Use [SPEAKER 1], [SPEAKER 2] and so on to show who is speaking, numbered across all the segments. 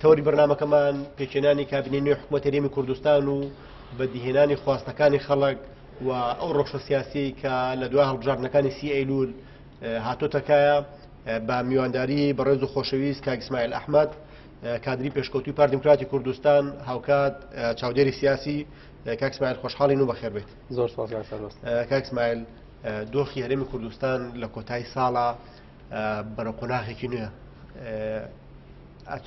[SPEAKER 1] تەوەری بەرنمەکەمان پێکێنانی کابینی نوێ حکوومەت هەرێمی کوردستان و بەدیهێنانی خواستەکانی خەڵک و ئەو ڕۆخشە سیاسی کە لە دوای هەڵبژاردنەکانی سی ئەیلول هاتۆتەکایە بە میوانداری بەڕێز و خۆشەویست کاگسمایل ئەحمد کادری پێشکەوتوی پاردیموکراتی کوردستان هاوکات چاودێری سیاسی کاکسمایل خۆشحاڵین و بەخێر بێت زۆر
[SPEAKER 2] کاکسمایل
[SPEAKER 1] دۆخی هەرێمی کوردستان لە کۆتایی ساڵە بەرە قۆناخێکی نوێ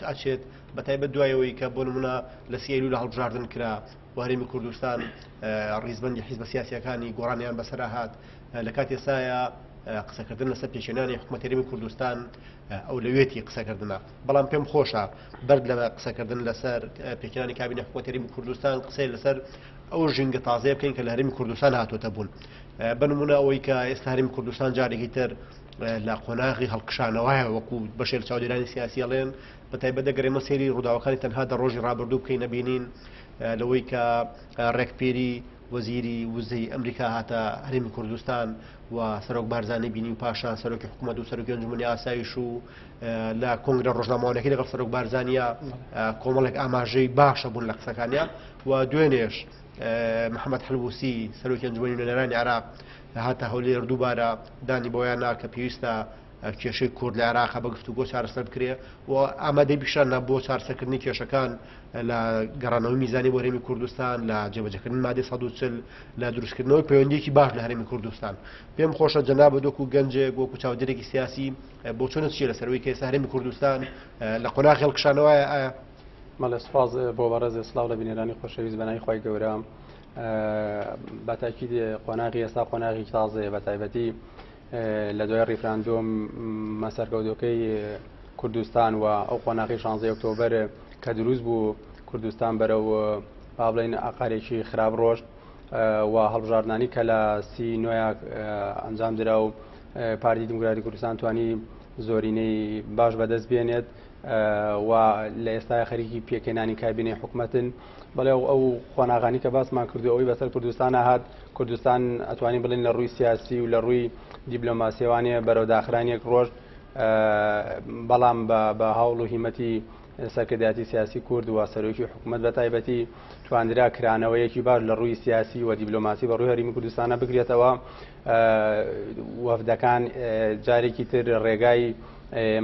[SPEAKER 1] ئەچێت بە تایبەت دوایەوەی کە بۆ نمونە لە سیری لە هەڵبژاردن کرا وارێمی کوردستان ڕیزبندی حیزبە سیاسەکانی گۆڕانیان بەسرا هاات لە کاتی سایە قسەکردن لەسەر پێشێنانی حکوومەتەرمی کوردستان ئەو لەوێتی قسەکردە بەڵام پێم خۆشە بەر لە قسەکردن لەسەر پێکانی کابینە حکووتەرمی کوردستان قسەی لەسەر ئەو ژینگە تازەیە بکەین کە لە هەرمی کوردستان هاتوۆتە بوون بە نمونە ئەوەی کە ئێستا هەرمی کوردستان جارێکی تر لە قۆناغی هەڵکشانەوەە وەکو بەشێل چاودێرانی سیاسیڵێن بە تایبەت دەگەرێمە سێری ڕووداوەکانی تەنها دە ڕۆژی ڕابردوو بکەین نەبینین لەوەی کە ڕێکپێری وەزیری وزەی ئەمریکا هاتە هەرمی کوردستان و سەرۆک بارزانانی بینی و پاشان سەرۆکی حکوومەت و سەرۆکی ئەنجومی ئاسایش و لە کۆنگرە ڕۆژنامەوانەکەی لەگەڵ سەرۆک بارزانیا کۆمەڵێک ئاماژەی باشە بوون لە قسەکانیان و دوێنێش محەممەد حلبوسی سەرۆکی ئەنجومی نوێنەرانی عراق هاتە هەولێر دووبارە دانی بۆیان نا کە پێویستە کێشەی کورد لە عراق بە گفتوگۆ چارەسەر بکرێ و ئامادەی پیشاننا بۆ چارسەکردنی کێشەکان لە گەڕانەوەی میزانی بۆ هەرێمی کوردستان لە جێبەجەکردن مادە 1940 لە دروستکردنەوەی پەیوەندێکی باش لە هەرێمی کوردستان پێم خۆشە جەناب دۆک و گەنجێک وەکو چاودێرێکی سیاسی بۆچونت چیە لەسەر ئەوەی کە ئێستا هەرێمی کوردستان لە قۆناغی هەڵکشانەوەیە ئایا مەڵێ سپاس
[SPEAKER 2] بۆ بەڕێزێ سلااو لە بینێرانی خۆشەویست بەنای خی گەورە بەتاکی قۆناغی ئێستا قۆناغی تازەیە بە تایبەتی لە دوای ڕیفراندۆم مەسەرکەوتەکەی کوردستان و ئەو قۆناغی شانزی ئۆکتۆبەر کە دروست بوو کوردستان بەرە و با بڵین ئاقارێکی خراپ ڕۆشت و هەڵبژاردنانی کە لە سی نوێ ئەنجام درا و پارتی دیموکراتی کوردستان توانی زۆرینەی باش بەدەست بێنێت و لە ئێستا خەریکی پێکێنانی کابینی حکوومەتن بەڵێ ئەو خۆناغانی کە باسمان کردو ئەوی بەسەر کوردستان هاات کوردستان ئەتوانین بڵین لە ڕووی سیاسی و لە ڕووی دیبلۆماسیێوانە بەرەو داخرانێک ڕۆژ بەڵام بە هەوڵ و هیمەتی سەرکرداتی سیاسی کورد و سەرۆکی حکوومەت بە تایبەتی تواندرا کرانەوەیەکی باش لە ڕووی سیاسی و دیبلۆماسی بە ڕووی هەرمی کوردستانە بگرێتەوە وەفدەکان جارێکی تر ڕێگای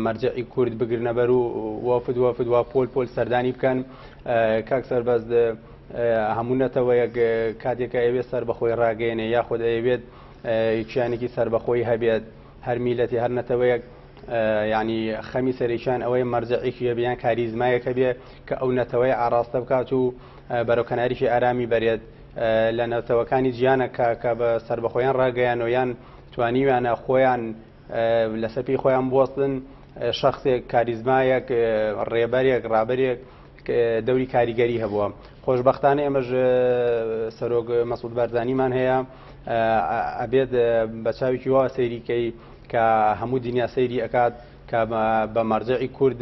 [SPEAKER 2] مەرجعی کورد بگرنە بەر و وەفد وەفد و پۆل پۆل سەردانی بکەن کاک سەربەز هەموو نەتەوەیەک کاتێکە ئەوێت سەر بەخۆی ڕاگەێنێ یاخود ئەوێت کیانێکی سربەخۆی هەبێت هەر میلەتی هەر نەتەوەیەک ینی خەمی سەرێکیان ئەوەی مەرجعێکی هەبیان کاریزمایەکە بێ کە ئەو نەتەوەی ئاراستە بکات و بەرەو کەناریشی ئارامی بەرێت لە نەتەوەکانی جیانە کە کە بە سەربەخۆیان ڕاگەیانەوە یان توانیویانە خۆیان لەسەر پێی خۆیان بوەستن شخصێک کاریزمایەک ڕێبەرێک ڕابەرێک دەوری کاریگەری هەبووە خۆشببختانە ئێمەش سەرۆک مەسود بارزانانیمان هەیە ئەبێت بە چاوێکی وا سەیریکەی کە هەموو دنیا سەیری ئەکات کە بە مەرجعی کورد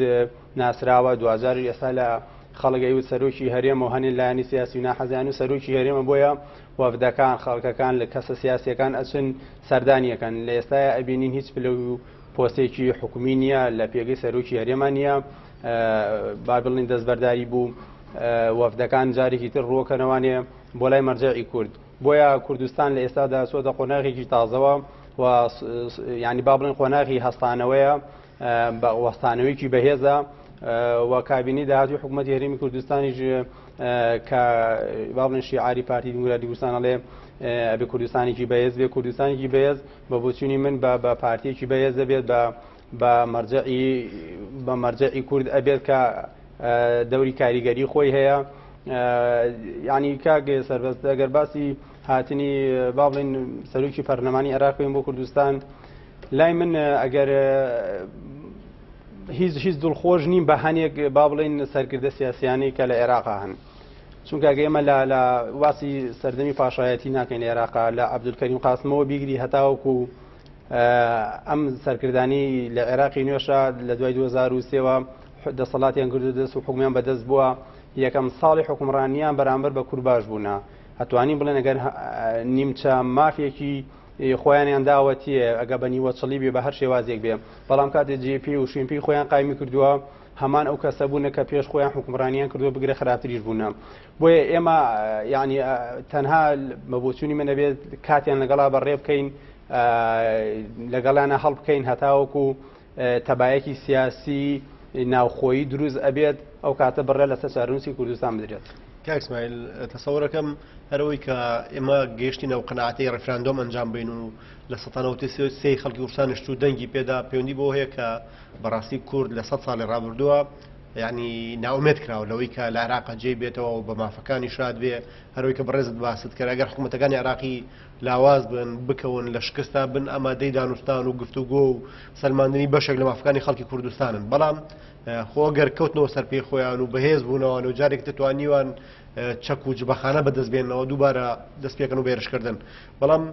[SPEAKER 2] ناسراوە دواجاریش ئێستا لە خەڵک ئەیوت سەرۆکی هەرێمە و هەنێ لایەنی سیاسی و ناحەزیان و سەرۆکی هەرێمە بۆیە وەفدەکان خەڵکەکان لە کەسە سیاسیەکان ئەچن سەردانیەکەن لە ئێستاە ئەبینین هیچ پلە و پۆستێکی حکومی نییە لە پێگەی سەرۆکی هەرێمان نییە با بڵین دەستبەرداری بوو وەفدەکان جارێکی تر ڕووەکەنەوانێ بۆ لای مەرجعی کورد بۆیە کوردستان لە ئێستادا سۆدە قۆناغێکی تازەوە و ینی با بڵین قۆناغی هەستانەوەیە بە وەستانەوەیەکی بەهێزە و کابینەی داهاتوی حکوومەتی هەرمی کوردستانیش کە باڵێن شیعاری پارتی دیموکراتی کوردستانەڵێ ئەبێ کوردستانێکی بەهێز بێ کوردستانێکی بەهێز بە بۆچوونی من بە بە پارتیەکی بەهێز دەبێت بە بە مەرجعی بە مەرجعی کورد ئەبێت کە دەوری کاریگەری خۆی هەیە ینی کاگە سەربەست ئەگەر باسی هاتنی با بڵین سەرۆکی پەرلەمانی عراقین بۆ کوردستان لای من ئەگەر هیچ هیچ دڵخۆش نیم بە هەنێک با بڵین سەرکردە سیاسیانی کە لە عێراقا هەن چونکە گەێمە لە لە واسی سەردەمی پاشایەتی ناکەین عێراقا لە عبدولکەریم قاسمەوە بیگری هەتاوەکو و ئەم سەرکردانی لە عێراقی نوێشە لە دوای 2023ەوە دەسەڵاتیان گردو دەست و حکومیان بەدەست بووە یەکەم ساڵی حکومڕانیان بەرامبەر بە کورباش بوونە ئەتوانی بڵێن ئەگەر نیمچە مافێکی خۆیانیان داوەتییە ئەگە بە نیوەچڵی بێ بە هەر شێوازێک بێ بەڵام کاتێ جێپی و شوێنپی خۆیان قایمی کردووە هەمان ئەو کەسە بوونە کە پێش خۆیان حکومڕانیان کردووە بگرە خراپتریش بوونە بۆیە ئێمە ینی تەنها مەبووچوونی منە بێت کاتیان لەگەڵا بەڕێ بکەین لەگەڵانە هەڵبکەین هەتاوەکو تەبایەکی سیاسی ناوخۆیی دروست ئەبێت ئەو کاتە بڕێ لەسەر چارەنووسی کوردستان بدرێت. کاک سمایل
[SPEAKER 1] تەسەوڕەکەم هەرەوەی کە ئێمە گەیشتین ئەو قەناعەتەی ڕیفراندۆم ئەنجام بین و لە سەتا نەوەد و سێ خەڵکی کوردستان نیشت و دەنگی پێدا پەیوەندی بەوە هەیە کە بەڕاستی کورد لە سەد ساڵی ڕابردووە یعنی ناومێت کراوە لەوەی کە لە عراقە جێی بێتەوە و بە مافەکانی شاد بێ هەروەی کە بەڕێزت باست کرد ئەگەر حکوومەتەکانی عراقی لاواز بن، بکەون لە شکستدا، بن ئامادەی دانوستان و گفتوگۆ و سەلماندنی بەشێک لە مافەکانی خەڵکی کوردستانن، بەڵام خۆ گەر کەوتنەوە سەر پێی خۆیان و بەهێز بوونەوەن و جارێکی تر توانیوان چەک و جبەخانە بەدەست بێنەوە دووبارە دەست پێکەن و بێرشکردن بەڵام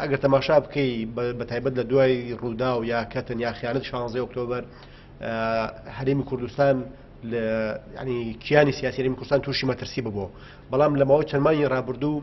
[SPEAKER 1] ئەگەر تەماشا بکەی بە تایبەت لە دوای ڕوودا و یا کەتن یا خیانەت شانزی ئۆکتۆبەر هەرێمی کوردستان ینی کیانی سیاسیری کوردستان تووشی مەترسی ببوو بەڵام لەمەوە چەندمانی ڕابردوو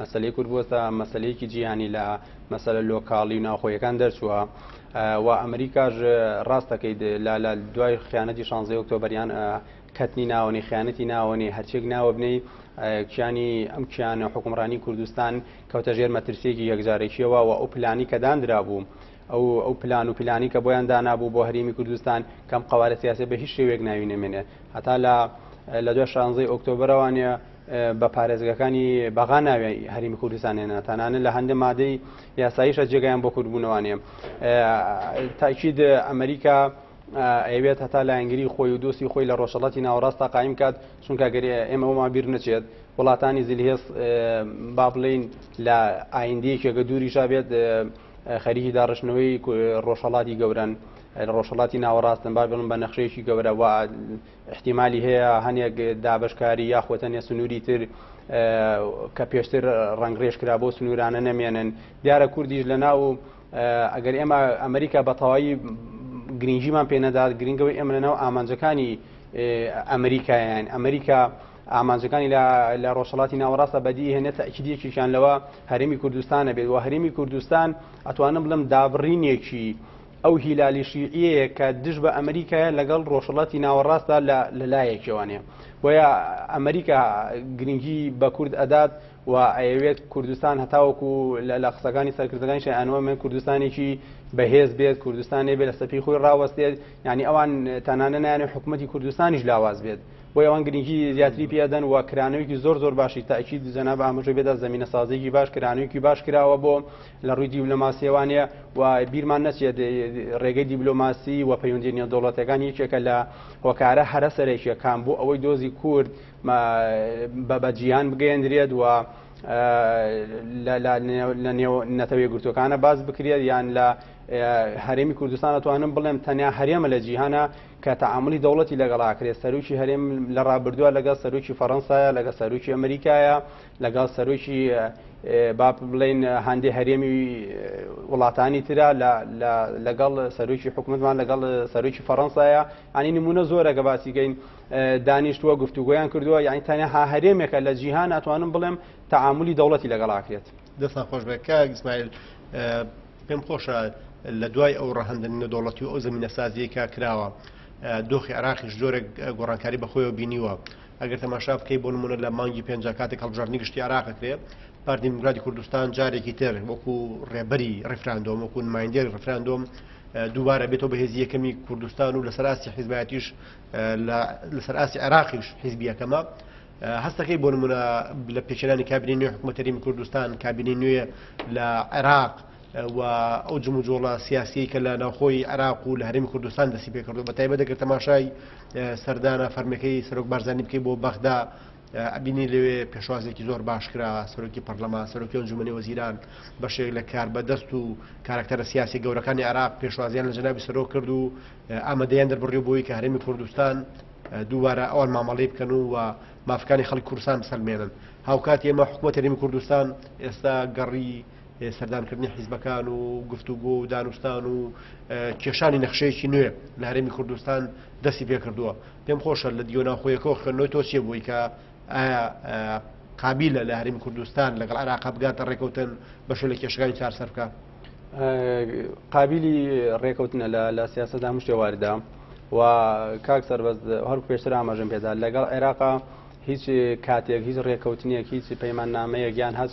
[SPEAKER 2] مەسەلەی کورد بۆتە مەسەلەیەکی جیهانی لە مەسەلە لۆکاڵی و ناوخۆیەکان دەرچووە و ئەمریکاش ڕاستەکەیت لا لا دوای خیانەتی شانزی ئۆکتۆبەریان کەتنی ناوەنی خیانەتی ناوەنی هەرچێک ناوە بنەی کیانی ئەم کیانە حکومڕانی کوردستان کەوتە ژێر مەترسیەکی یەکجارێکیەوە و ئەو پلانی کە دانرا بوو. ئەو ئەو پلان و پلانی کە بۆیان دانابوو بۆ هەرێمی کوردستان کەم قوارە سیاسی بە هیچ شێوێک ناوی نەمێنێ هەتا لە لە دوای شانزەی ئۆکتۆبرەوانە بە پارێزگاکانی بەغا ناوی هەرمی کوردستان هێنا تانانە لە هەندە مادەی یاساییشە جێگایان بۆ کوردبوونەوانێ تاکیید ئەمریکا ئەوێت هەتا لایەنگری خۆی و دۆستی خۆی لە ڕۆژەڵاتی ناوەڕاستە قایم کات چونکە گەری ئێمە ئەوما بیر نەچێت وڵاتانی زلهێز با بڵین لە ئایندەیەکێکە دووری ژابێت خەریکی داڕشتنەوەی ڕۆژهڵاتی گەورن ڕۆژهڵاتی ناوەڕاستن با بڵم بە نەخشەیەکی گەورەوە ئیحتیمالی هەیە هەنێک دابەشکاری یاخود هەنێ سنووری تر کە پێشتر ڕەنگڕێژ کرا بۆ سنوورانە نەمێنن دیارە کوردیش لە ناو ئەگەر ئێمە ئەمریکا بە تەواوی گرنگیمان پێ نەدات گرنگەوەی ئێمە لەناو ئامانجەکانی ئەمریکایان ئەمریکا ئامانجەکانی لە ڕۆژهڵاتی ناوەڕاستە بەدی هێنە تاکیدیەکیشان لەوە هەرمی کوردستانە بێت و هەرمی کوردستان ئەتوانم بڵم دابڕینێکی ئەو هیلالی شیعیەیە کە دژ بە ئەمریکایە لەگەڵ ڕۆژهڵاتی ناوەڕاستدا لە لەلایەکیوانێ بۆیە ئەمریکا گرنگی بە کورد ئەدات و ئەیەوێت کوردستان هەتاوەکو لە قسەکانی سەرکردەکانی شایانەوە من کوردستانێکی بەهێز بێت کوردستانێ بێت لە سەپی خۆی ڕاوەستێت ینی ئەوان تەنانە نایانە حکوومەتتی کوردستانیش لاواز بێت بۆ ئەوان گرنگی زیاتری پێدەن و کرانەوەیکی زۆر زۆر باشی تاکیید جەناب ئاماژەی بێدا زمینە سازێکی باش کرانەوەیکی باش کراوە بۆ لە ڕووی دیبلۆماسیەوانێ و بیرمان نەچێت ڕێگەی دیبلۆماسی و پەیوەندی نێودوڵەتەکان یەکێکە لە هۆکارە هەرە سەرێکیەکان بۆ ئەوەی دۆزی کورد بە بەجییان بگەێندرێت و لە نێو نەتەوەی گرتوەکانە باز بکرێت یان لە هەرێمی کوردستان ئەتوانم بڵێم تەنیا هەرێمە لە جیهانە کە تەعاملی دەوڵەتی لەگەڵاکرێت سەرروکی هەرێم لە ڕابردووە لەگەڵ سەرروکی فەڕەنسایە لەگە سەرروکی ئەمریکایە لەگەڵ سەرۆکی با بڵێن هەندێ هەرێمی وڵاتانی تررا لەگەڵ سەرۆکی حکوومەتمان لەگەڵ سەرۆکی فەڕەنسایە ئەنی نمونە زۆرەگە باسیگەین دانیشتووە گفتوگویان کردووە یعنی تەنها هەرێمێکە لە جیهان ناتوانم بڵێم تعاملی دەوڵەتی لەگەڵاکرێت دەستان خۆش بێ
[SPEAKER 1] کاک ئیسماعیل پێم خۆشە لە دوای ئەو ڕەهندن نەدۆڵەتی و ئەو زمینە سازیەکە کراوە دۆخی عراقیش زۆرە گۆڕانکاری بەخۆیەوە بینیوە ئەگەر تەماشا بکەی بۆ نمونە لە مانگی پێنج کاتێک هەڵبژاردننی گشتی عراقەکرێ پارتی دیموکراتی کوردستان جارێکی تر وەکو ڕێبەری ڕفراندۆم وەکو نمایندێر ڕفراندۆم دووبارە بێتەوە بەهێزی یەکەمی کوردستان و لەسەر ئاستی حیزباتیش لەسەر ئاستی عێراقیش حیزبیەکەمە هەستەکەی بۆ نمونە لە پێچرانی کابینی نوێ حکوومەتەریم کوردستان کابینی نوێ لە عێراق و ئەو جموجۆڵە سیاسیەی کە لە ناوخۆی عراق و لە هەرمی کوردستان دەسی پێکردو بە تایبەت دەکرد تەماشای سەردانە فەرمەکەی سەرۆک بارزانانی بکەی بۆ بەغدا ئەبینی لەوێ پێشوازێکی زۆر باش کرا سەرۆکی پەرلەمان سەرۆکی ئەنجومەنی وەزیران بەشێک لە کار بەدەست و کارکتەرە سیاسی گەورەکانی عراق پێشوازیان لە جنابی سەرۆک کرد و ئامادەیان دەربڕی بۆی کە هەرمی کوردستان دووبارە ئەوان مامەڵی بکەن و و مافەکانی خەڵک کورسان بسەلمێنن هاوکات ئێمە حکوومەت هەرمی کوردستان ئێستا گەڕی سەردانکردنی حیزبەکان و گفتوگۆ و دانوستان و کێشانی نەخشەیەکی نوێ لە هەرێمی کوردستان دەستی پێکردووە پێم خۆشە لە دیۆ ناوخۆیەکەەوە خوێندنەوەی تۆ چیە بووی کە ئایا قابلە لە هەرمی کوردستان لەگەڵ عراق بگاتە ڕێکوتن بەشە لە کێشەکانی چارسەر بکە قابلی
[SPEAKER 2] ڕێکوتنە لە لە سیاستدا هەم شێواردا و کاک سەربەز هەر پێشتر ئاماژم پێدا لەگەڵ عێراقا هیچ کاتێک هیچ ڕێککەوتنیەک هیچ پەیماننامەیە گیان هەچ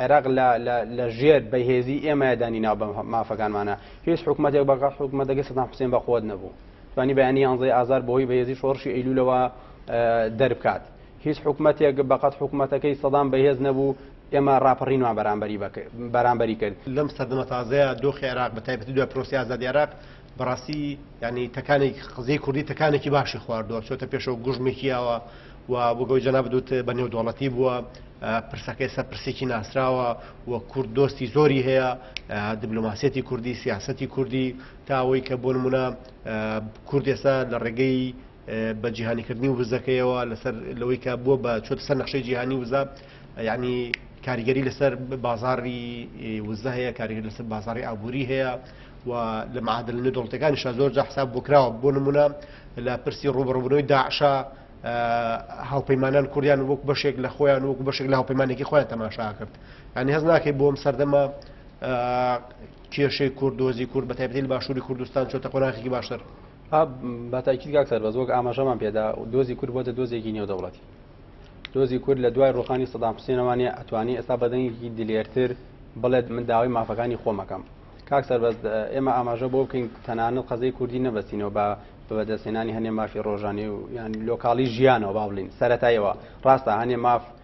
[SPEAKER 2] عێراق لە لە لە ژێر بەهێزی ئێمە دانی ناو بە مافەکانمانە هیچ حکوومەتێک بەگەڵ حکوومەتەکە سەدام حوسێن بە قوت نەبوو توانی بەیانی یانزەی ئازار بۆی بەهێزی شۆڕشی ئەیلولەوە دەربکات هیچ حکوومەتێک بەقەت حکوومەتەکەی سەدام بەهێز نەبوو ئێمە راپەڕینوان بەرامبەری بەرامبەری کرد لەم سەردەمە تازەیە
[SPEAKER 1] دۆخی عێراق بە تایبەتی دوای پرۆسی ئازادی عێراق بەڕاستی یانی تەکانێک قزەی کوردی تەکانێکی باشی خواردووە چۆتە پێشەوە گوژمێکیەوە و بگەی جەنا بدوت بە نێودوڵەتی بووە پرسەکەی سە پرسێکی ناسراوە و کورد دۆستی زۆری هەیە دیبلوماسیەتی کوردی سیاستی کوردی تاوەی کە بۆ نمونە کوردێستا لە ڕێگەی بە جیهانی کردنی وزەکەیەوە لەسەر لەوەی کە بووە بە چۆتە سەر نەخشەی جیهانی وزە یعنی کاریگەری لەسەر بازاری وزە هەیە کاریگەر لەسەر بازاری ئابووری هەیە و لە معادل نوێ دڵتەکانی شا زۆر جا حساب بۆ کراوە بۆ نمونە لە پرسی ڕوبڕبوونەوەی داعشا هاوپەیمانان کوردیان وەک بەشێک لە خۆیان وەک بەشێک لە هاوپەیمانێکی خۆیان تەماشا کرد ئەنی هەز ناکەی بۆم سەردەمە کێشەی کورد دۆزی کورد بە تایبەتی لە باشووری کوردستان چۆتە قۆناخێکی باشتر. بە
[SPEAKER 2] تاکید کاک سەربەز وەک ئاماژەمان پێدا دۆزی کورد بۆتە دۆزێکی نێودەوڵەتی دۆزی کورد لە دوای ڕوخانی سەدام حسێنەوانە ئەتوانی ئێستا بەدەنگێکی دلێرتر بڵێت من داوای مافەکانی خۆمەکەم کاک سەربەز ئێمە ئاماژە بۆ بکەین تەنانەت قەزەی کوردی نەبەستینەوە بە بەدەستێنانی هەنێ مافی ڕۆژانی و یان لۆکاڵی ژیانەوە با بڵین سەتایەوە ڕاستە هەنێ ماف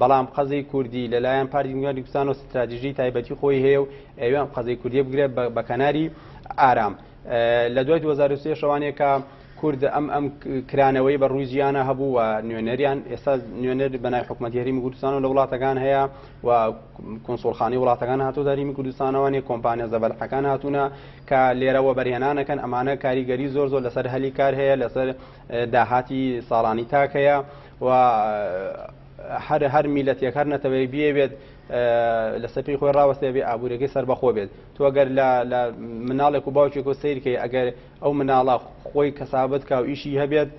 [SPEAKER 2] بەڵام قەزێی کوردی لە لایەن پارتی دیموکراتی کوردستانەوە ستراتیژی تایبەتی خۆی هەیە و ئەوێ ئەم قەزەی کوردیە بگرێت بە کەناری ئارام لە دوای 2023 شەوانێکە کورد ئەم ئەم کرانەوەی بە ڕووی جیانە هەبوو و نوێنەریان ئێستا نوێنەر بەنای حکوومەتتی هەرمی کوردستان و لە وڵاتەکان هەیە و کنسۆڵخانی وڵاتەکان هاتۆ داریمی کوردستانەوەێ کۆمپانیا زەبەلحەکان هاتوونە کە لێرەوە بەرهێنانەکەن ئەمانە کاریگەری زۆر زۆر لەسەر هەلی کار هەیە لەسەر داهاتی ساڵانی تاکەیە و هەر هەر میلەتێک هەر نەتەوەیەک بیەوێت لەسەر پێی خۆی ڕاوەستێ بێ ئابوورەکەی سەربەخۆ بێت تو ئەگەر لە مناڵێک و باوکێک و سیرکەی ئەگەر ئەو مناڵە خۆی کەسابەت کا و ئیشی هەبێت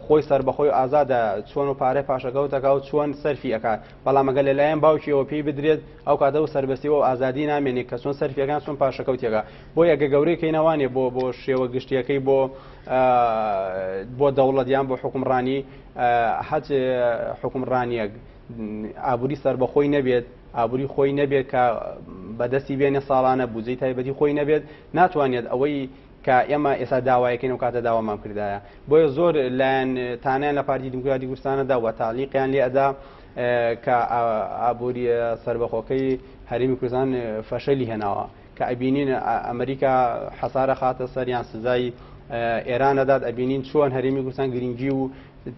[SPEAKER 2] خۆی سربەخۆی ئازادە چۆن و پارە پاشەکەوتەکە و چۆن سەرفی ئەکات بەڵامەگە لەلایەن باوکیەوە پێی بدرێت ئەو کاتە و سربەستی و ئازادی نامێنێت کە چۆن سەرفیەکان چۆن پاشەکەوتێکە بۆ یەگە گەورەی کەینەوانێ بۆ بۆ شێوە گشتیەکەی بۆ بۆ دەوڵەت یان بۆ حکومڕانی هەچ حکومڕانیەک ئابووری سربەخۆی نەبێت ئابووری خۆی نەبێت کە بەدەستی بێنێ ساڵانە بودجەی تایبەتی خۆی نەبێت ناتوانێت ئەوەی کە ئێمە ئێستا داوایەکەین و کاتە داوامان کردایە بۆیە زۆر لایەن تانیان لە پارتی دیموکراتی کوردستانەدا وە تالیقیان لێ ئەدا کە ئابووری سربەخۆکەی هەرێمی کوردستان فەشەلی هێناوە کە ئەبینین ئەمریکا حەسار ئەخاتە سەر یان سزای ئێران ئەدات ئەبینین چۆن هەرێمی کوردستان گرنگی و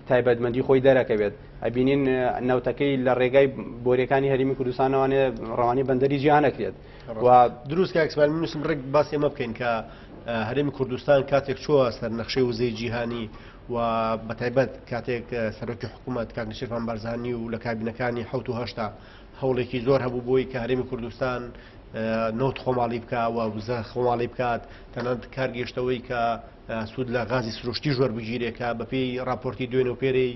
[SPEAKER 2] تایبەتمەندی خۆی دەرەکەوێت ئەبینین نەوتەکەی لە ڕێگای بۆریەکانی هەرمی کوردستانەوانێ
[SPEAKER 1] ڕەوانی
[SPEAKER 2] بەندەری
[SPEAKER 1] جیانەکرێت و دروست
[SPEAKER 2] کاکسمان
[SPEAKER 1] منوسم
[SPEAKER 2] ڕێک
[SPEAKER 1] باسی ئەمە بکەین
[SPEAKER 2] کە
[SPEAKER 1] هەرێمی کوردستان کاتێک چووە سەر نەخشەی وزەی جیهانی و بەتایبەت کاتێک سەرۆکی حکوومەت کاکنشێفان بارزانانی و لە کابینەکانی حوت و هەشتا هەوڵێکی زۆر هەبوو بۆی کە هەرێمی کوردستان نەوت خۆماڵی بکە و وزە خۆماڵی بکات تەنانەت کار گەشتەوەی کە سوود لە غازی سروشتی ژۆر بگیرێکە بەپێی راپۆرتی دوێن و پێرەی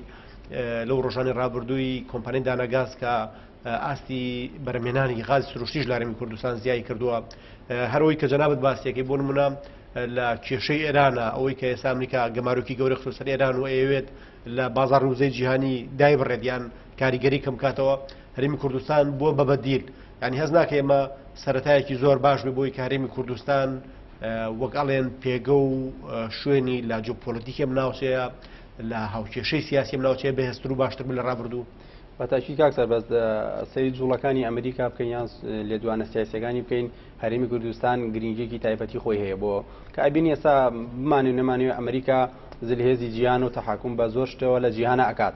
[SPEAKER 1] لەو ڕۆژانی رابردووی کۆمپانین دانەگاز کە ئاستی بەرمێنانی غاز سروشتیش لارمی کوردستان زیای کردووە هەرەوەی کە جەنابەت باسیەکەی بۆ منە لە کێشەی ئێرانە ئەوەی کە ئێستا ئەمریکا گەمارۆکی گەورە خسەر ئێران و ئەوێت لە بازار وزەی جیهانی دای بڕێت یان کاریگەری کەم بکاتەوە هەرمی کوردستان بووە بە بەدیل ینی هەز ناکە ئێمە سەتایەکی زۆر باش بێ بۆی کارێمی کوردستان وەک ئەڵێن پێگە و شوێنی لا جۆپۆلتیکێم ناوچەیە لە هاوکێشەی سیاسیم ناوچەیە بەهێستر و باشتر لە ڕابردوو بەتاکی کاک
[SPEAKER 2] سەربەز سەری جوڵەکانی ئەمریکا بکەین یان لێدوانە سیاسەکانی بکەین هەرمی کوردستان گرنگێکی تایبەتی خۆی هەیە بۆ کە ئەبین ئێستا بمانێ نەمانوێ ئەمریکا زلهێزی جیان و تەحکم بە زۆر شتەوە لە جیهانە ئەکات.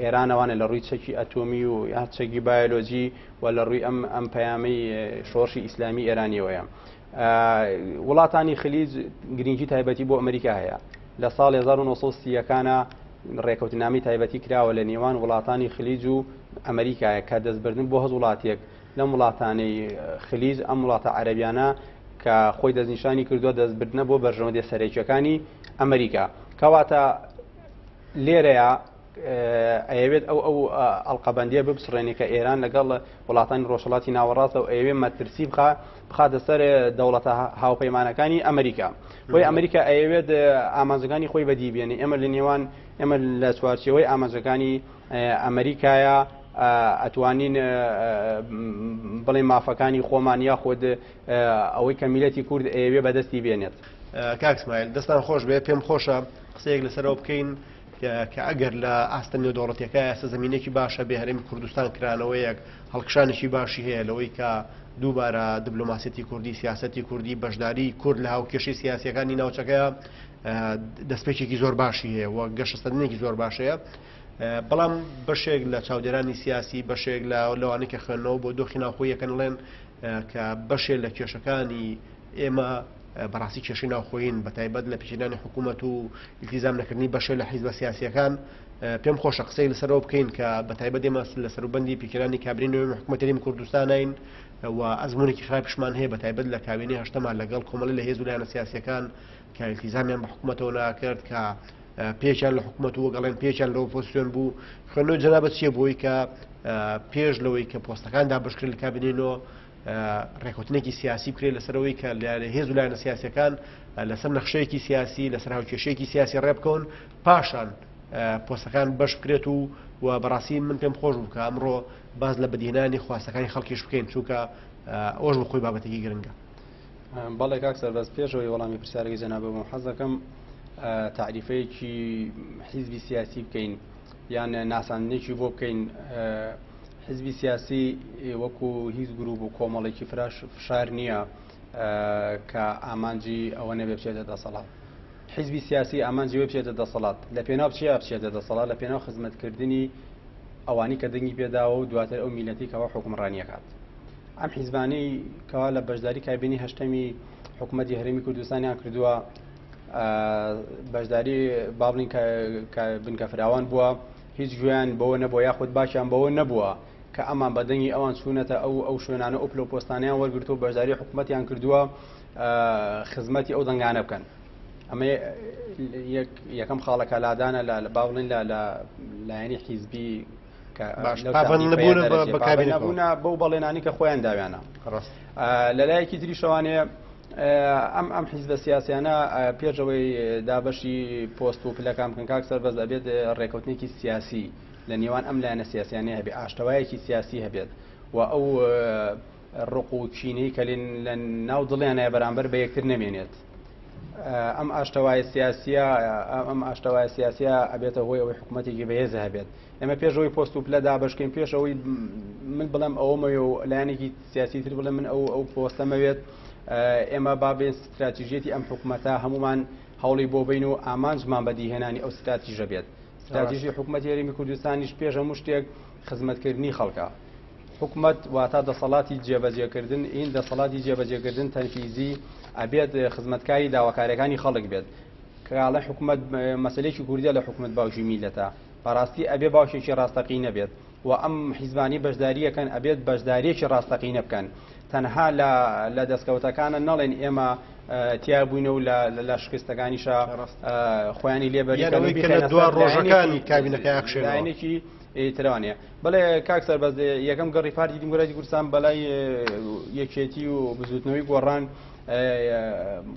[SPEAKER 2] ئێران ئەوانە لە ڕووی چەکی ئەتۆمی و یا چەکی بایۆلۆجی و لە ڕووی ئەم ئەم پەیامەی شۆڕشی ئیسلامی ئێرانیەوەیە وڵاتانی خلیج گرنگی تایبەتی بۆ ئەمریکا هەیە لە ساڵ 1930ەکانە ڕێکەوتنامی تایبەتی کراوە لە نێوان وڵاتانی خلیج و ئەمریکایە کە دەستبردن بۆ هەز وڵاتێک لەم وڵاتانەی خلیج ئەم وڵاتە عەربیانە کە خۆی دەستنیشانی کردووە دەستبردنە بۆ بەرژەوەندی سەرێکیەکانی ئەمریکا کەواتە لێرەیا ئەیەوێت ئەو ئەو ئەڵقەبەندیە بپچڕێنێ کە ئێران لەگەڵ وڵاتانی ڕۆژهڵاتی ناوەڕاستە و ئەیەوێ مەترسی بخە بخاتە سەر دەوڵەتە هاوپەیمانەکانی ئەمریکا بۆی ئەمریکا ئەیەوێت ئامانجەکانی خۆی بەدی بێنێ ئێمە لە نێوان ئێمە لە چوارچەوەی ئامانجەکانی ئەمریکایە ئەتوانین بڵێ مافەکانی خۆمان یاخود ئەوەی کە میلەتی کورد ئەیەوێ بەدەستی بێنێت کاک سمایل
[SPEAKER 1] دەستان خۆش بێ پێم خۆشە قسەیەک لەسەرەوە بکەین کە ئەگەر لە ئاستە نێودەوڵەتەکە ئێستا زمینێکی باشە بێ هەرێمی کوردستان کرانەوەیەک هەڵکشانێکی باشی هەیە لەوەی کە دووبارە دبلوماسیەتی کوردی سیاستی کوردی بەشداری کورد لە هاوکێشی سیاسەکانی ناوچەکە دەستپێکێکی زۆر باشی هەیە و گەشەسەندنێکی زۆر باشەیە بەڵام بەشێک لە چاودێرانی سیاسی بەشێک لە لەوانەیە خوێندنەوە بۆ دۆخی ناوخۆیەکەن ڵێن کە بەشێ لە کێشەکانی ئێمە بەڕاستی کێشەی ناوخۆین بە تایبەت لە پیچدانی حکوومەت و التیزام نەکردنی بەشێ لە حیزبە سیاسیەکان پێم خۆشە قسەی لەسەرەوە بکەین کە بە تایبەت ئێمە لە سەروبندی پیکرانی کابرینەوەی محکومەتەریم کوردستانین و ئەزمونێکی خراپشمان هەیە بە تایبەت لە کاوێنی هەشتەما لەگەڵ کۆمەڵی لە هێز و لایەنە سیاسەکان کە التیزامیان بە حکوومەتەوە ناکرد کە پێچیان لە حکوومەت و گەڵێن پێچیان لەوە پۆسیۆن بوو خوێنەوە جەنابەت چیە بۆی کە پێش لەوەی کە پۆستەکان دابشکرد لە کابینینەوە ڕێکوتنێکی سیاسی بکرێت لەسەرەوەی کە لایەنە هێز و لایەنە سیاسەکان لەسەر نەخشەیەکی سیاسی لەسەر هاوکێشەیەکی سیاسی ڕێبکەون پاشان پۆستەکان بەش بکرێت و و بەڕاستی من پێم خۆش بکە ئەمڕۆ باز لە بەدینانی خواستەکانی خەڵکیش بکەین چونکە ئەوش بخۆی بابەتێکی گرنگە بەڵێ
[SPEAKER 2] کاک سەربەز پێشەوەی وەڵامی پرسیارەکەی جەنابەوەم حەزەکەم تعریفەیەکی حیزبی سیاسی بکەین یان ناساندنێکی بۆ بکەین حزبی سیاسی وەکو هیچ گروپ و کۆمەڵێکی فراش فشار نییە کە ئامانجی ئەوە نەبێ بچێتە دەسەڵات حزبی سیاسی ئامانجی وێ بچێتە دەسەڵات لە پێناو چیا بچێتە دەسەڵات لە پێناو خزمەتکردنی ئەوانی کە دەنگی پێداوە و دواتر ئەو میلەتی کەەوە حکومڕانیەکات ئەم حیزبانەی کەوا لە بەشداری کابینی هەشتەمی حکوومەتتی هەرمی کوردستانیان کردووە بەشداری بابلین بنکە فراوان بووە هیچ گوێیان بەوە نەبووە یاخود باشیان بەوە نەبووە کە ئەمان بەدەنگی ئەوان چوونەتە ئەو ئەو شوێنانە ئۆپل و پۆستانیان وەرگرتو بەشداری حکوومەتیان کردووە خزمەتی ئەو دەنگانە بکەن ئەمە یەکەم خاڵەکە لادانە لە باڵین لە لە لایەنی حیزبی بەکاربوونا بەو بەڵێنانی کە خۆیان داویانە لە لایەکی تری شەوانەیە ئەم ئەم حیزبە سیاسیانە پێش ئەوەی دابەشی پۆست و پلەکان بکەن کاک سەربەز ئەبێت ڕێکوتنێکی سیاسی لە نێوان ئەم لایەنە سیاسیانە هەبێ ئاشتەوایەکی سیاسی هەبێت و ئەو ڕق و چینەی کە لە ناو دڵیانە بەرامبەر بە یەکتر نەمێنێت ئەم ئاشتەوایە سیاسە ئەم ئاشتەوایە سیاسە ئەبێتە هۆی ئەوەی حکوومەتێکی بەهێز هەبێت ئێمە پێشەوەی پۆست و پلە دابشکین پێشەوەی من بڵێم ئەوەمەوێ و لایەنێکی سیاسی تر بڵێ من ئەو ئەو پۆستە مەوێت ئێمە بابێن ستراتیژێتی ئەم حکوومەتە هەمومان هەوڵی بۆ بین و ئامانجمان بەدیهێنانی ئەو ستراتیژە بێت ستراتیژی حکوومەت یاریمی کوردستانیش پێشە مشتێک خزمەتکردنی خەڵکە حکومت واتا دەسەڵاتی جێبەجێکردن این دەسەڵاتی جێبەجێکردن تەنفیزی ئەبێت خزمەتکاری داواکارەکانی خەڵک بێت کەگاڵە حکومت مەسلێکی کوردە لە حکومت باوکی میلەتە بەڕاستی ئەبێ باوکێکی ڕاستەقی نەبێت وە ئەم حیزبانەی بەشداریەکەن ئەبێت بەشداریەکی ڕاستەقینە بکەن تەنها لە لە دەستکەوتەکانە نەڵێن ئێمە تیا بووینە و لە شکستەکانیشە خۆیانی لێبەرەوەی
[SPEAKER 1] دو ڕۆژەکانی کابینەکە یاخشێنێکی ترانێ
[SPEAKER 2] بڵێ کاک سەربەز یەکەم گەڕی پارتی دیموکراتی کوردستان بەلای یەکێتی و بزوتنەوەی گۆڕان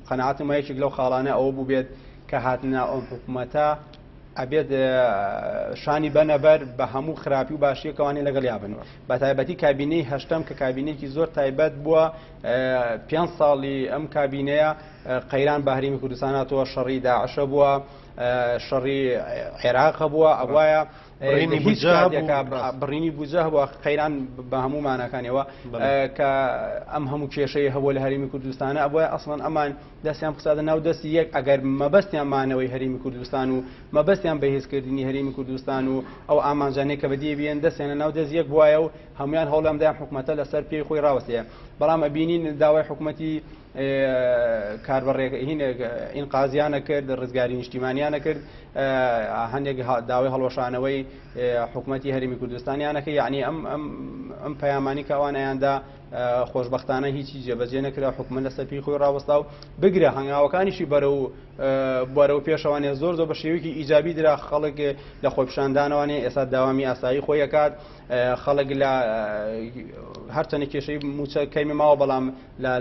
[SPEAKER 2] قەنعاتم یەکێک لەو خاڵانە ئەوە بوو بێت کە هاتنە ئەو حکوومەتە ئەبێت شانی بەنەبەر بە هەموو خراپی و باشیەکەوانی لەگەڵ یابن بە تایبەتی کابینەی هەشتم کە کابینێکی زۆر تایبەت بووە پێ ساڵی ئەم کابینەیە قەیران بەهریمی کوردستاناتەوە شەڕی داعشە بووە شەڕی عێراقە بووە ئەوایە بڕینی بجە بۆ قەیران بە هەموو مانەکانەوە کە ئەم هەموو کێشەیە هەبوو لە هەرمی کوردستانە ئەوە ئەسڵەن ئەمان دەستیان بخساتە ناو دەستی یەک ئەگەر مەبەستیان مانەوەی هەرێمی کوردستان و مەبەستیان بەهێزکردنی هەرێمی کوردستان و ئەو ئامانجانەیە کە بەدی بێن دەستیانە ناو دەست یەک بواە و هەمویان هەوڵیان دایان حکوومەتە لەسەر پێی خۆی ڕاوەستەیە بەڵام ئەبینین داوای حکوومەتی کاربڕێک هینێک ئین قازیانە کرد ڕزگاری نیشتیمانیانە کرد هەندێک داوای هەڵۆشانەوەی حکوومەتتی هەرمی کوردستانیانەکە یعنی ئەم ئەم ئەم پەیامانی کاوانیاندا خۆشبەختانە هیچی جێبەجێ نەکرا حکومە لەسەر پێی خۆی ڕاوەستا و بگرە هەنگاوەکانیشی بەرە و بەرە و پێشەوانێ زۆر زۆر بە شێوەیەکی ئیجابی درا خەڵک لە خۆپشاندانوانێ ئێستا داوامی ئاسایی خۆیەکات خەڵک لە هەرچەنە کێشەی موچە کەمی ماوە بەڵام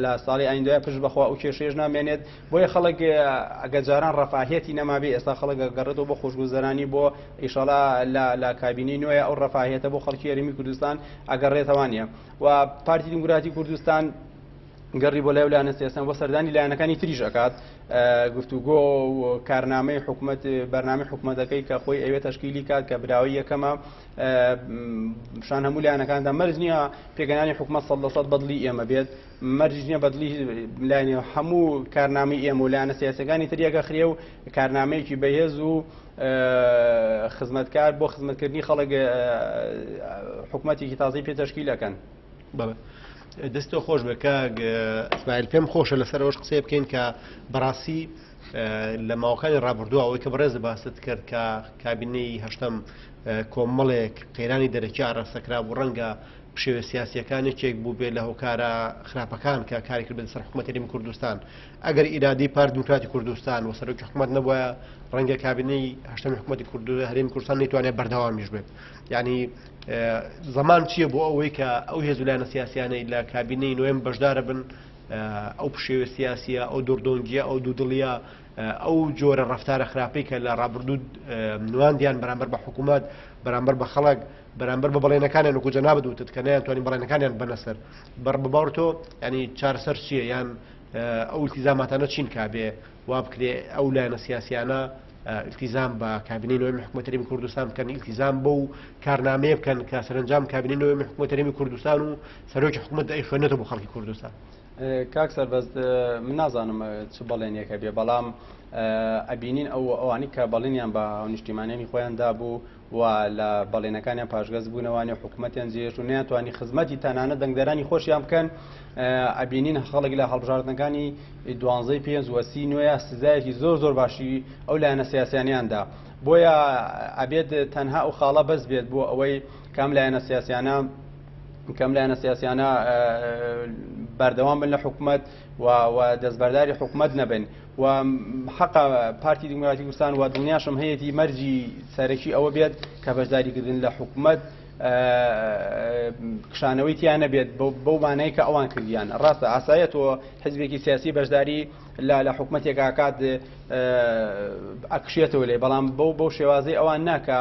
[SPEAKER 2] لە ساڵی ئایندای پشت بەخوا و کێشێش نامێنێت بۆیە خەڵک ئەگەجاران ڕفاهەتی نەمابێ ئێستا خەڵک گەڕێتەوە بۆ خۆشگوزەرانی بۆ ئیشەڵا لە کابینی نوێ ئەو ڕفاهەتە بۆ خەڵکی ئەرمی کوردستان ئەگەڕێتەوانە و پارتی دیموکراتی کوردستان گەڕی بۆ لای و لایەنە سیاسەن بۆ سەردانی لایەنەکانی تریش ئەکات گفتوگۆ و کارنامەی حکوومەت بەرنامی حکوومەتەکەی کە خۆی ئەوێ تشکیلی کات کە براوی یەکەمە شان هەموو لایەنەکاندا مەرج نییە پێگەنانی حکوومەت سە دەسەد بەدلی ئێمە بێت مەرج نییە بەدلی لایەنێ هەموو کارنامی ئێمە و لایەنە سیاسەکانی تریەکە خرێ و کارنامەیەکی بەهێز و خزمەتکار بۆ خزمەتکردنی خەڵک حکوومەتێکی تازی پێتەشکیلەکەن بەڵێ.
[SPEAKER 1] دەستۆ خۆش بە کاگسمایل پێم خۆشە لەسەر ئەوش قسەی بکەین کە بەڕاستی لە ماوەکانی ڕابردووە ئەوەی کە بەڕێز باست کرد کە کابینەی هەشتم کۆمەڵێک قەیرانی دەرەکی ئاراستەکرا بوو ڕەنگە پشێوە سیاسیەکانێکێک بوو بێ لە هۆکارە خراپەکان کە کاری کرد بە سەر حکوومەتەریم کوردستان ئەگەر ئیرادەی پارتی دیموکراتی کوردستان و سەرۆکی حکومەت نەبووە ڕەنگە کابینەی هەشتەمی حکومەتی کورد هەرێمی کوردستان نەیتوانێت بەردەوامیش بێت یعنی زەمان چییە بۆ ئەوەی کە ئەو هێزولایەنە سیاسیانەی لە کابینەی نوێم بەشدارە بن ئەو پشێوە سیاسیە ئەو دوردۆنگیە ئەو دوودڵە ئەو جۆرە ڕفتارە خراپەی کە لە ڕابردوو نواندیان بەرامبەر بە حکوومەت بەرامبەر بە خەڵک بەرامبەر بە بەڵێنەکانیان وکو جەنابەت وتت کە نەیان توانین بەڵێنەکانیان بەنەسەر بەڕ بباڕتۆ ینی چارسەر چییە یان ئەو ئیلتیزاماتانە چین کا بێ وا بکرێ ئەو لایەنە سیاسیانە ئیلتیزام بە کابینەی نۆێمی حکوومەت هەرێمی کوردستان بکەن ئیلتیزام بەو کارنامەیە بکەن کە سەرنجام کابینەی نۆێمی حکوومەت هەرێمی کوردستان و سەرۆکی حکوومەت ئەی خوێنێتە بۆ خەڵکی کوردستان کاک
[SPEAKER 2] سەربەز من نازانم چ بەڵێنێکە بێ بەڵام ئەبینین ئەو ئەوانی کە بەڵێنیان بە نیشتیمانانی خۆیان دابوو و لە بەڵێنەکانیان پاشگەز بوونە وانیە حکوومەتیان جێش و نیانتوانی خزمەتی تەنانە دەنگدەرانی خۆشیان بکەن ئەبینین خەڵک لە هەڵبژاردنەکانی دوانزەی پێنج وەسی نوێە سزایەکی زۆر زۆر باشی ئەو لایەنە سیاسیانیاندا بۆیە ئەبێت تەنها ئەو خاڵە بەس بێت بۆ ئەوەی کام لایەنە سیاسیانە کەم لایەنە سیاسیانە بەردەوام بن لە حکوومەت و دەستبەرداری حکومەت نەبن و حقا پارتی دیموکراتی کوردستان و دڵنیاشم هەیەی مەرجی سەرەکی ئەوە بێت کە بەشداریکردن لە حکومت کشانەوەی تیانە بێت بەو مانای کە ئەوان کردیان ڕاستە ئاسایە تۆ حزبێکی سیاسی بەشداری لا لە حکومتێکاکات ئەکشێتەوە لێ بەڵام بەو بەو شێوازی ئەوان ناکە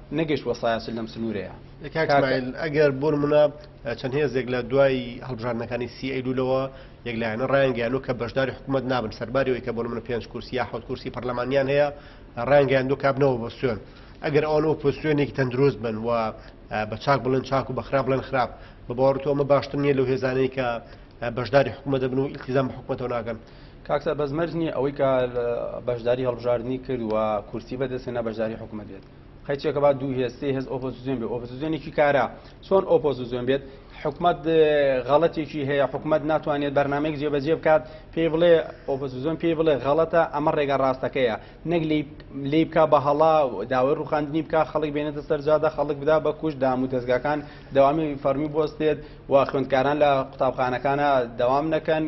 [SPEAKER 2] نەگەشتوە سایەچل لەم سنورەیا. کاک سمایل ئەگەر
[SPEAKER 1] بۆنمونە چەند هێزێک لە دوای هەڵبژاردنەکانی سی ئەیلولەوە یەک لایەنە ڕایانگەیانوە کە بەشداری حکومەت نابن سەرباری ئەوەی کە بۆنمونە پێنج کورسی یا حەوت کورسی پەرلەمانیان هەیە ڕایانگەیاندوە کە ئەبنەوە بۆ سوێن ئەگەر ئەوان ئۆپۆسیۆنێکی تەندروست بن و بە چاک بڵێن چاک و بەخراپ بڵێن خراپ بە باوەڕتۆ ئەمە باشتر نییە لەو هێزانەی کە بەشداری حکومە دەبن و ئیلتیزان بە حکومەتەوە ناکەن کاکسەر بەس مەرج
[SPEAKER 2] نییە ئەوەی کە بەشداری هەڵبژاردننی کرد و کورسی بەدەستێنا بەشداری حکومە دێت قەیچەکە با دوو هێز سێ هێز ئۆپۆزیسیۆن بێ ئۆپۆزیسیۆنێکی کارا چۆن ئۆپۆزیسیۆن بێت حکومت غەڵەتێکی هەیە حکومت ناتوانێت بەرنمەیەک جێبەجێ بکات پێی بڵێ ئۆپۆزیسیۆن پێی بڵێ غەڵەتە ئەمە ڕێگا ڕاستەکەیە نەک لی بکە بە هەڵا داوای ڕوخاندنی بکە خەڵک بێنێتە سەرجادە خەڵک بدا بە کوش دام و دەستگاکان داوامی فەرمی بستێت و خوێندکاران لە قوتابخانەکانە داوام نەکەن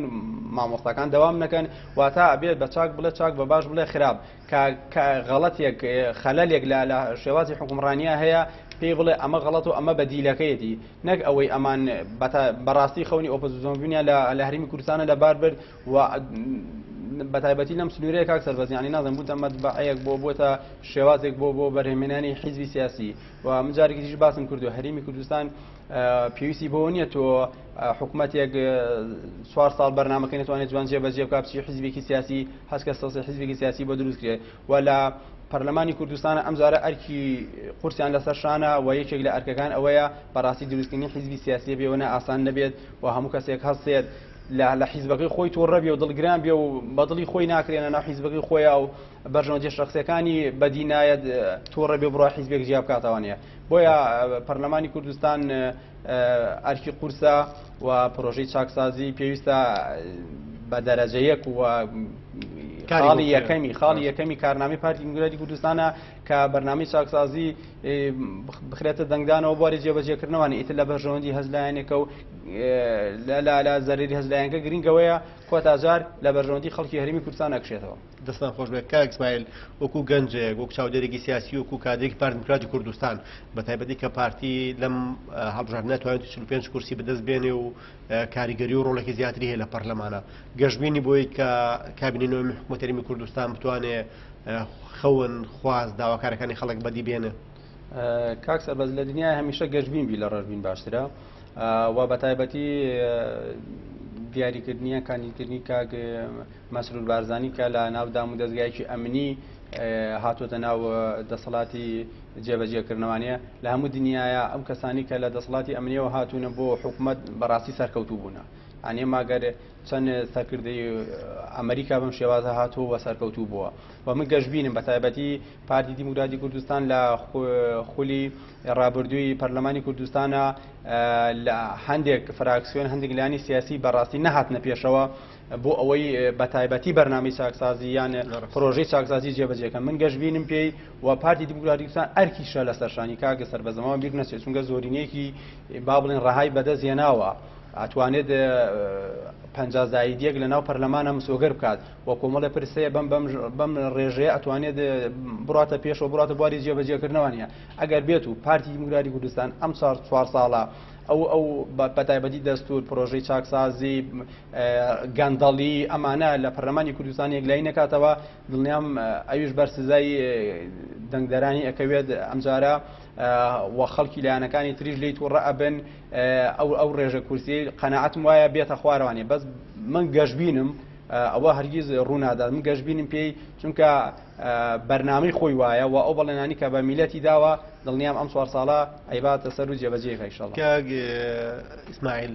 [SPEAKER 2] مامۆستاکان داوام نەکەن واتە بێت بە چاک بڵێ چاک بە باش بڵێ خراپ کە کە غەڵەتێک خەلەلێک لە لە شێوازی حوکمڕانیا هەیە پێی بڵێ ئەمە غەڵەت و ئەمە بەدیلەکەیەتی نەک ئەوەی ئەمان بەتا بەڕاستی خەونی ئۆپۆزیسۆن بوونیان لە لە هەرێمی کوردستانە لەبار برد و بە تایبەتی لەم سنوورەیە کاک سەربەز یانی نازم بووتە مەتبەعەیەک بۆ بۆتە شێوازێک بۆ بۆ بەرهێمێنانی حیزبی سیاسی و من جارێکی دیش باسم کرد و هەرێمی کوردستان پێویستی بەوە نییە تۆ حکومەتێک چوار ساڵ بەرنمەکەی نتوانێت جوان جێبەجێ بکە بچی حزبێکی سیاسی هەستکە سەسی حزبێکی سیاسی بۆ دروست کرێت و لە پەرلەمانی کوردستان ئەمجارە ئەرکی قورسیان لەسەر شانە و یەکێک لە ئەرکەکان ئەوەیە بەڕاستی دروستکردنی حیزبی سیاسی بێوەە ئاسان نەبێت و هەموو کەسێک هەستێت لە لە حیزبەکەی خۆی تۆڕەبی و دڵگران بێ و بەدڵی خۆی ناکرێنە ناو حیزبەکەی خۆیە و بەرژەوە جێشتەخسەکانی بەدینایەت تۆڕە بێ بڕای حیزبێک جیا بکاتەوانەیە بۆیە پەرلەمانی کوردستان ئەرکی قورسە و پرۆژەی چاکسازی پێویستە بە دەرەجە یەک و خاڵی یەکەمی خاڵی یەکەمی کارنامەی پارتی دیموکراتی کوردستانە کە بەرنامەی چاکسازی بخرێتە دەنگدانەوە بواری جێبەجێکردنەوەوان ئیتر لە بەرژەوەندی هەزلایەنێکە و لە زەرری هەزلایەنگە گرنگەوەیە کۆتاجار لە بەرژەوەندی خەڵکی هەرمی کوردستان ئەکشێتەوە دەستتان خۆشبێت کاک
[SPEAKER 1] ئیسماعیل، وەکو گەنجێک، وەکو چاودێرێکی سیاسی، وەکو کادرێکی پارتی دیموکراتی کوردستان، بەتایبەتی کە پارتی لەم هەڵبژاردنە توانیویەتی چل و پێنج کورسی بەدەست بێنێ و کاریگەری و ڕۆڵێکی زیاتری هەیە لە پەرلەمانە گەشببینی بۆی کە کابینەی نوێمی حکوومەت هەرێمی کوردستان بتوانێ خەون خواست داواکارەکانی خەڵک بەدی بێنێ کاک
[SPEAKER 2] سەربەز لە دنیای هەمیشە گەشببین بی لە ڕژبین باشترە و بەتایبەتی دیاریکردنیە کاندیدکردنی کاک مەسرور بارزانی کە لە ناو دام و دەزگایەکی ئەمنی هاتۆتە ناو دەسەڵاتی جێبەجێکردنەوانەیە لە هەموو دنیاە ئەم کەسانی کە لە دەسەڵاتی ئەمنیەوە هاتوونە بۆ حکوومەت بەڕاستی سەرکەوتوو بوونە ئەنێ ماگەر چەند سەرکردی ئەمریکا بەم شێوازە هاتووە و سەرکەوتوو بووە و من گەشببینم بە تایبەتی پارتی دیموکراتی کوردستان لە خولی ڕابردووی پەرلەمانی کوردستانە لە هەندێک فراکسیۆن هەندێک لانی سیاسی بەڕاستی نەهاتنە پێشەوە بۆ ئەوەی بە تایبەتی بەرنامی چاکسازی یانە پرۆژەی چاکسازی جێبەجێکە من گەشت بینم پێی و پارتی دیموکراتیکسان ئەرکیشە لە سەرشانی کاگە سەر بە زەماوە بیر نەچێت چونگە زۆرینەیەکی با بڵێن ڕەهای بەدەست هێناوە ئەتوانێت پەنجازایدیەک لە ناو پەرلەمانە مسۆگەر بکات و کۆمەڵە پرسەیە بم بەم ڕێژەیە ئەتوانێت بڕاتە پێشەوە بڕاتە بواری جێبەجێکردنەوەنیە ئەگەر بێت و پارتی دیموکراتی کوردستان ئەم چوار ساڵە ئەو ئەو بەتایبەتی دەستور پرۆژەی چاکسازی گەندەڵی ئەمانە لە پەرلەمانی کوردستان یەکلایی نەکاتەوە دڵنیام ئەویش بەر سزای دەنگدەرانی ئەکەوێت ئەمجارە و خەڵکی لایەنەکانی تریش لی تووڕە ئەبن ئەو ئەو ڕێژە کورسی قەنەعەتم وایە بێتە خوارەوانێ بەس من گەشببینم ئەوە هەرگیز ڕوونادات من گەشببینم پێی چونکە بەرنامەی خۆی وایە و ئەو بەڵێنانی کە بە میلەتی داوە دڵنیام ئەم چوار ساڵە
[SPEAKER 1] ئەیباتە
[SPEAKER 2] سەر و جێبەجێ خەیشەڵ ئیسماعیل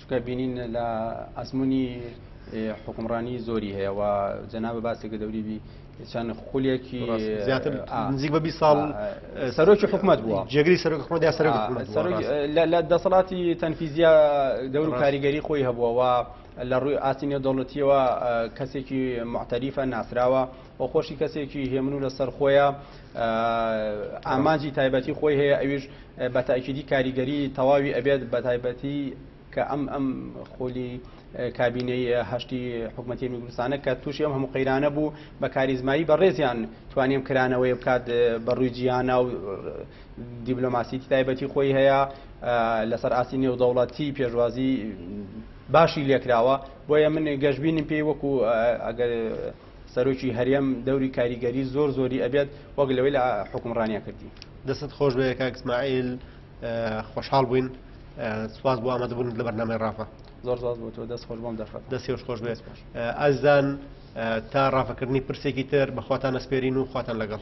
[SPEAKER 2] چونکە بینین لە ئەزمونی حکومڕانی زۆری هەیە و جەنابە باسێکە دەوری بی چەند خولێکی زیاتر
[SPEAKER 1] نزیک بە بی ساڵ سەرۆکی حکومت
[SPEAKER 2] بووە جێگری سەرۆک حکومت یا سەرۆک
[SPEAKER 1] لە دەسەڵاتی
[SPEAKER 2] تەنفیزیا دەور و کاریگەری خۆی هەبووەوە لە ڕووی ئاستی نێودەوڵەتیەوە کەسێکی معتەریفە ناسراوە و خۆشی کەسێکی هێمن و لەسەر خۆیە ئامانجی تایبەتی خۆی هەیە ئەویش بە تاکیدی کاریگەری تەواوی ئەبێت بە تایبەتی کە ئەم ئەم خۆلی کابینەی هەشتی حکوومەتی میگرستانە کە تووشی ئەم هەموو قەیرانە بوو بە کاریزمایی بەڕێزیان توانیم کرانەوەی بکات بە ڕووی جیهانە و دیبلۆماسیتی تایبەتی خۆی هەیە لەسەر ئاستی نێودەوڵەتی پێشوازی باشی لێکراوە بۆیە من گەشببینم پێی وەکو ئەگەر سەرۆکی هەرێم دەوری کاریگەری زۆر زۆری ئەبێت وەک لەوەی لە حکومڕانیا کردی دەست خۆش بێ
[SPEAKER 1] کاکسمائیل خۆشحاڵ بووین سوپاس بۆ ئامادەبوون لە بەرنامەی ڕافە زۆر زۆر بۆ تۆ
[SPEAKER 2] دەست خۆش بۆم دەرخەت دەست خۆش خۆش بێت
[SPEAKER 1] ئازان تا ڕافەکردنی پرسێکی تر بەخواتان نەسپێرین و خواتان لەگەڵ